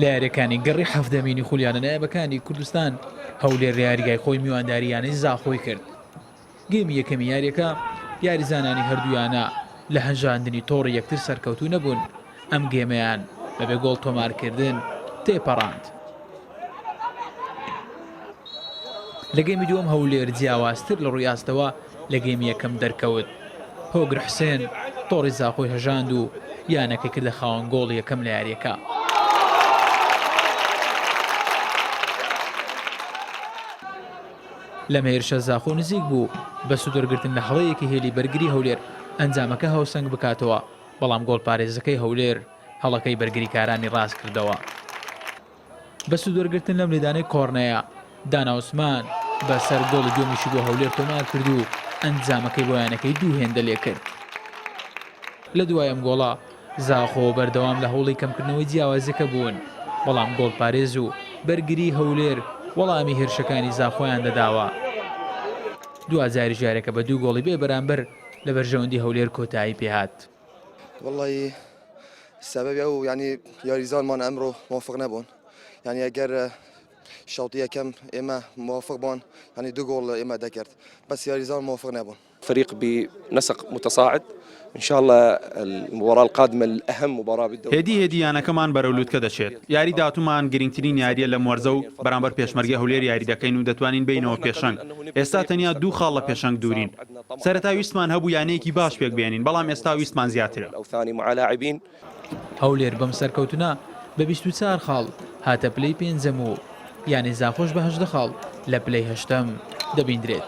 لە یاریەکانی گەڕی حەفدەمینی خولیانە نایبەکانی کوردستان هەولێر لە یاریگای خۆی میوانداری یانەی زاخۆی کرد گەیمی یەکەمی یاریەکە یاریزانانی هەردوویانە لە هەژاندنی تۆڕی یەکتر سەرکەوتو نەبوون ئەم گێمەیان بەبێ گۆڵ تۆمارکردن تێپەڕاند. لە گێمی دووەم هەولێر جیاوازتر لە ڕووی ئاستەوە لە گێمی یەکەم دەرکەوت، هۆگر حوسێن تۆڕی زاخۆی هەژاند و یانەکەی کردە خاوەن گۆڵی یەکەم لە یارییەکە. لەم هێرشە زاخۆ نزیک بوو بە سوودوەرگرتن لە هەڵەیەکی هێلی بەرگری هەولێر ئەنجامەکە هاوسەنگ بکاتەوە، بەڵام گۆڵپارێزەکەی هەولێر هەڵەکەی بەرگریکارانی ڕاستکردەوە. بە سوودوەرگرتن لەم لێدانەی کۆڕنەیە، دانا عوسمان بە سەر گۆڵی دووەمیشی بۆ هەولێر تۆمار کرد و ئەنجامەکەی بۆ یانەکەی دوو هێندە لێ کرد. لە دوای ئەم گۆڵە، زاخۆ بەردەوام لە هەوڵی کەمکردنەوەی جیاوازییەکە بوون، بەڵام گۆڵپارێز و بەرگریی هەولێر وەڵامی هێرشەکانی زاخۆیان دەداوە. دواجاریش یارییەکە بە دوو گۆڵی بێ بەرامبەر لە بەرژەوەندی هەولێر کۆتایی پێ هات. وەڵایی سەبەبی ئەو یانی یاریزانمان ئەمڕۆ مۆفق نەبوون یانی ئەگەر شەوتی یەکەم ئێمە مۆفق بوون ینی دوو گۆڵ ئێمە دەکرد بەس یاریزان مۆفق نەبوون فريق بنسق متصاعد ان شاء الله المباراه القادمه الاهم مباراه بالدوري هێدی هێدی یانەکەمان بەرەو لوتکە دەچێت یاری داهاتوومان گرنگترین یاریە لەم وەرزە و بەرامبەر پێشمەرگەی هەولێر یاری دەکەین و دەتوانین بێینەوە پێشەنگ ئێستا تەنیا دوو خاڵ لە پێشەنگ دوورین سەرەتا ویستمان هەبوو یانەیەکی باش پێک بێنین بەڵام ئێستا ویستمان زیاترە. هەولێر بەم سەرکەوتنە بە بیست و چار خاڵ هاتە پلەی پێنجەم و یانەی زاخۆش بە هەژدە خاڵ لە پلەی هەشتەم دەبیندرێت.